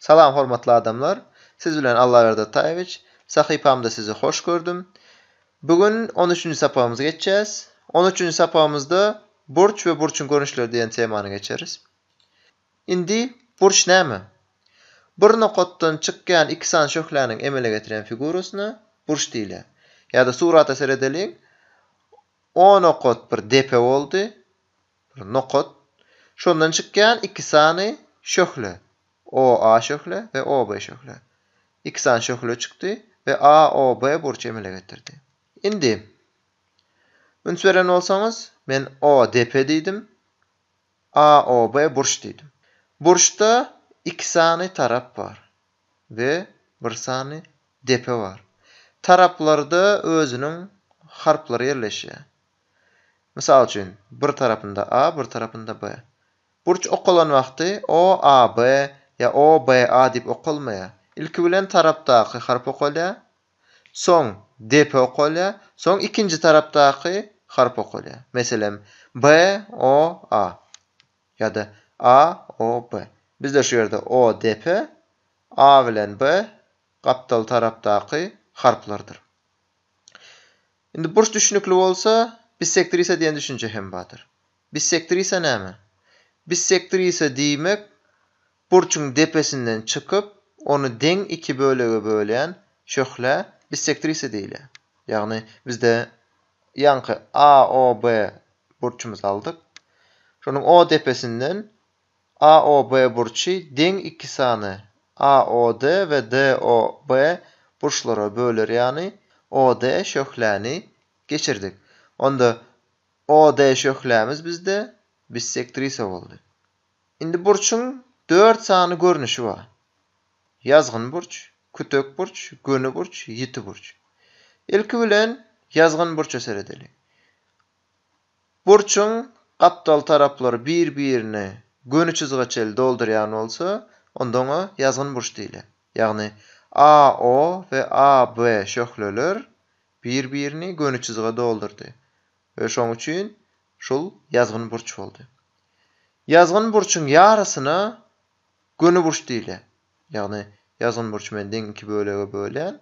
Salam hormatly adamlar! Siz bilen Allaberdi Ataýewiç. Sahypamda sizi hoş gördüm. Bu gün on üçünji sapagymyzy geçýäs. On üçünji sapagymyzda Burç we burçuň görnüşleri diýen temany geçeris. Indi burç näme? Bir nokatdan çykýan iki sany şöhläniň emele getirýän figurasyna burç diýilýär. Ýa-da surata seredeliň. O nokat bir depe boldy. bir nokat, şondan çykýan iki sany şöhle, OA şöhle we OB şöhle. Iki sany şöhle çykdy we AOB burç emele getirdi. Indi, üns beren bolsaňyz, men ODP diýdim, AOB burç diýdim. Burçda iki sany tarap bar we bir sany depe bar. Taraplarda özüniň harplary ýerleşýär. Mysal üçin, bir tarapynda A, bir tarapynda B. Burç okalan wagty OAB ýa OBA diýip okalmaýar. Ilki bilen tarapdaky harp okalýar, soň depe okalýar, soň ikinji tarapdaky harp okalýar. Meselem, BOA ýa-da AOB. Bizde şu ýerde O depe, A bilen B gapdal tarapdaky harplardyr. Indi burç düşnükli bolsa, bissektrisa diýen düşünje hem bardyr. Bissektrisa näme? Bissektrisa diýmek burçuň depesinden çykyp, ony deň iki bölege bölýän şöhlä bissektrisa diýilýär. Ýagny bizde ýaňky AOB burçumyzy aldyk. Şonuň O depesinden AOB burçy deň iki sany AOD we DOB burçlara böler ýany OD şöhläni geçirdik. Onda OD şöhlämiz bizde bissektrisa boldy. Indi burçuň dört sany görnüşi bar. Ýazgyn burç, kütek burç, göni burç, ýiti burç. Ilki bilen ýazgyn burça seredeliň. Burçuň gapdal taraplary bir-birini göni çyzyga çenli doldurýan bolsa, onda oňa ýazgyn burç diýilýär. Ýagny AO we AB şöhleler bir-birini göni çyzyga doldurdy we şoň üçin şul ýazgyn burç boldy. Ýazgyn burçuň ýarysyna göni burç diýilýär. Ýagny ýazgyn burçy men deň iki bölege bölýän,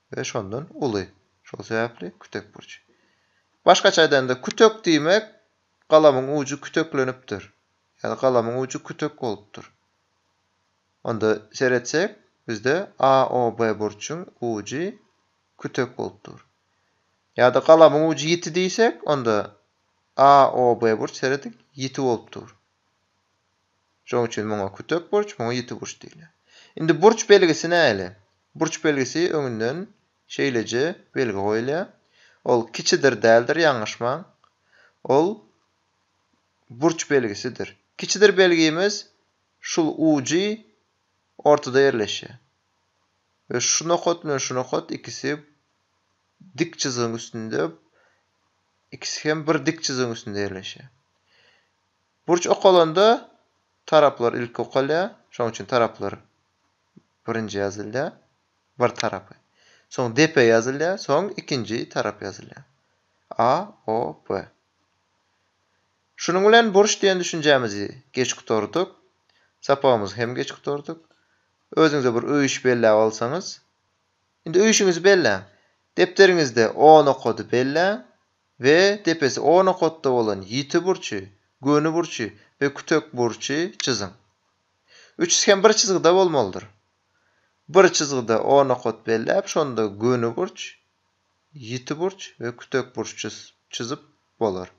we şondan uly. Şol sebäpli kütek burçy. Başgaça aýdanda, kütek diýmek, galamyň ujy küteklenipdir ýa-da galamyň ujy kütek bolupdyr. Onda seretsek, bizde A, O, B burçuň ujy kütek bolup dur. Ýa-da galamyň ujy ýiti diýsek, onda A, O, B burç, serediň, ýiti bolup dur. Şonuň üçin muňa kütek burç, muňa ýiti burç diýilýär. Indi burç belgisi nähili? Burç belgisi öňünden şeýleje belgi goýulýar. Ol kiçidir däldir, ýalňyşmaň. Ol burç belgisidir. Kiçidir belgimiz şul ujy ortada ýerleşýär. We şu nokat bilen şu nokat ikisi dik çyzygyň üstünde, ikisi hem bir dik çyzygyň üstünde ýerleşýär. Burç okalanda taraplar ilki okalýar. Şonuň üçin taraplar birinji ýazylýar, bir tarapy. Soň depe ýazylýar, soň ikinji tarap ýazylýar. A, O, B. Şunuň bilen burç diýen düşünjämizi geç gutardyk. Sapagymyzy hem geç gutardyk. Özüňize bir öýüş belläp alsaňyz. Indi öýüşiňizi belläň. Depderiňizde on okady belläň. we depesi o nokatda bolan ýiti burçy, göni burçy we kütek burçy çyzyň. Üçüsi hem bir çyzgyda bolmalydyr. Bir çyzgyda o nokat belläp, şonda göni burç, ýiti burç we kütek burç çyzyp bolar.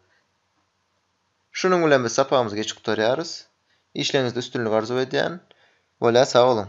Şunuň bilen biz sapagymyzy geçip gutarýarys. Işleriňizde üstünlik arzuw edýän. Bolýa sag boluň.